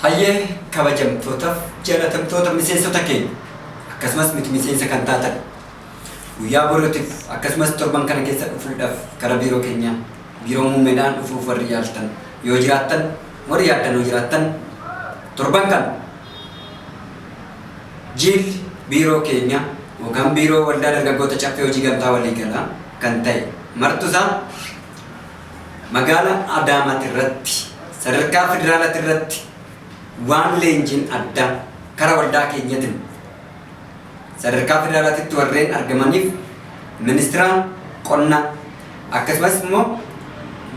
Hayyee kabajamtootaaf jaalatamtoota miseensota keenya akkasumas miti miseensa kan taatan guyyaa borootiif akkasumas torban kana keessa dhufuudhaaf gara biiroo keenyaa biiroo muummeedhaan dhufuuf warri yaaltan yoo jiraattan Warri yaaddanoo jiraattan torban kana jiilli biiroo keenya yookaan biiroo waldaa dargaggoota caffee hojii gamtaa waliigalaa kan ta'e martusaa magaala Adaamaati irratti sadarkaa federaalaati irratti waan leenjiin addaa kara waldaa keenyatiin Sadarkaa federaalaatitti warreen argamaniif Ministiraan Qonnaa akkasumas immoo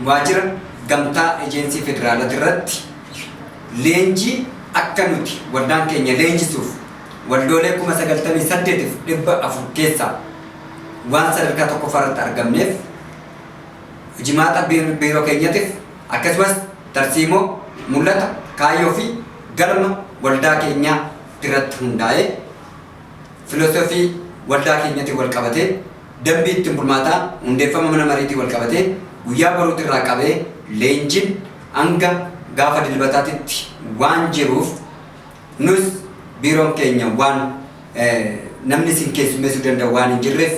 Waajjira Gamtaa Ejeensii Federaalaatirratti leenjii akka nuti waldaan keenya leenjisuuf waldoolee 98,400 keessaa waan sadarkaa 1ffaa irratti argamneef hojimaata biiroo keenyatiif akkasumas tarsiimoo, mul'ata, kaayyoo fi galma waldaa keenyaa irratti hundaa'ee filosoofii waldaa keenyatiin wal qabatee dambii ittiin bulmaataa hundeeffama mana mariitiin wal qabatee guyyaa boruutti irraa qabee leenjiin hanga gaafa dilbataatitti waan jiruuf nus biiroon keenya waan namni isin keessummeessuu danda'u waan hin jirreef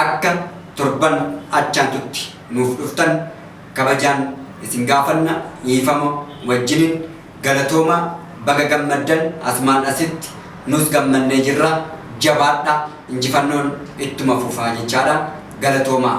akka torban achaantutti nuuf dhuftan kabajaan isin gaafanna dhiifama wajjiniin Galatoomaa baga gammaddan asumaan asitti nuus gammannee jirra jabaadhaa injifannoon ittuma fufaa jechaadha galatoomaa.